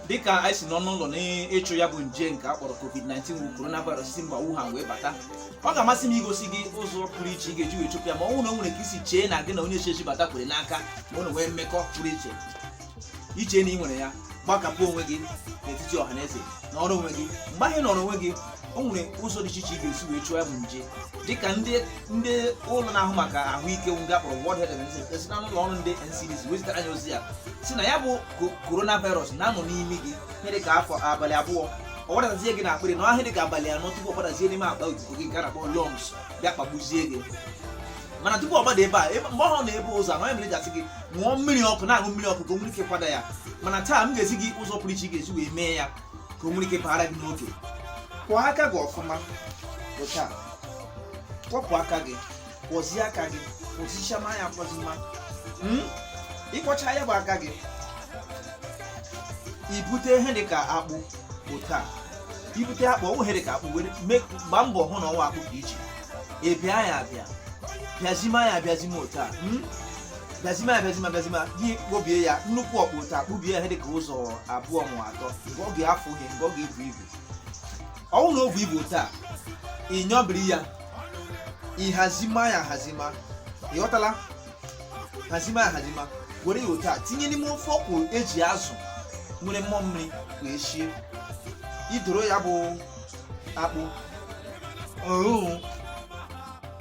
dịka anyị si nọ n'ụlọ n'ịchụ ya bụ nje nke a kpọrọ covid-19 bụ coronavirus si mba Wuhan wee bata ọ ga-amasị m igosi gị ụzọ pụrụ iche ị ga-eji wee chụpụ ya ma ọ bụrụ na o nwere ka i si chee na gị na onye si ezi bata kwere n'aka ma ọ na nwee mmekọ pụrụ iche i chee na i nwere ya gbakapụ onwe gị n'etiti ọha na eze nọrọ onwe gị mgbe ahụ ị nọrọ onwe gị o nwere ụzọ dị iche iche ị ga-esi wee chụọ ya bụ nje dịka ndị ndị ụlọ na-ahụ maka ahụike ndị a kpọrọ World Health Organization e si n'ụlọ ọrụ ndị NCDC wee zitara anyị ozi ya sị na ya bụ coronavirus na-anọ n'imi gị ihe dịka afọ abalị abụọ ọ gbadazie gị n'akpịrị nọọ ihe dịka abalị anọ tupu ọ gbadazie n'ime akpa ikuku gị nke a na-akpọ lungs bịa kpagbuzie gị mana tupu ọ gbada ebe a mgbe ọhụ ọ nọ n'ebe ụzọ anọ ya mere a ga-asị gị ṅụọ mmiri ọkụ na-aṅụ mmiri ọkụ ka o nwere ike kwada ya mana taa m ga-ezi gị ụzọ pụrụ iche ị ga-esi wee mee ya ka o nwere ike baara gị n'oge kwọọ aka gị ọfụma otu a kwọpụ aka gị kwọzie aka gị kwọzichama ya kwọzima hmm? ị kwọcha ya bụ aka gị i bute ihe dị ka akpụ otu a i bute akpụ ọ wụ ihe dị ka akpụ were gbaa mbọ hụ na ọ wụ akpụ dị iche ị bịa ya abịa bịazima ya abịazima otu a hmm? bịazima ya bịazima bịazima gị kpobie ya nnukwu ọkpụ otu a kpubie ya ihe dịka ụzọ abụọ ma atọ nke ọ ga-awụ ihe nke ọ ga-ebu ibu ọ wụrụ na o bu ibu otu a ị nyọbiri ya ị hazima ya hazima ị ghọtala hazima ya hazima were ya otu a tinye n'ime ofe ọkwụ e ji azụ nwere mmụọ mmiri wee sie i loro ya bụ akpụ ọhụụ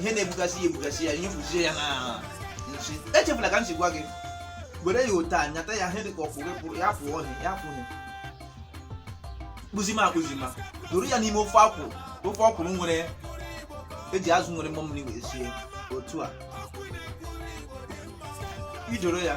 ihe na-ebugasị ya ebugasị ya nyụpụzie ya na nsị echefula ka m si gwa gị were ya otu a nyata ya ihe dị ka ọfụ gị pụrụ ya pụọ ọhịa ya pụọ ọhịa kpụzima akpụzima doro ya n'ime ofe akwụ ofe ọkwụrụ nwere e ji azụ nwere mmụọ mmiri wee sie otu a i loro ya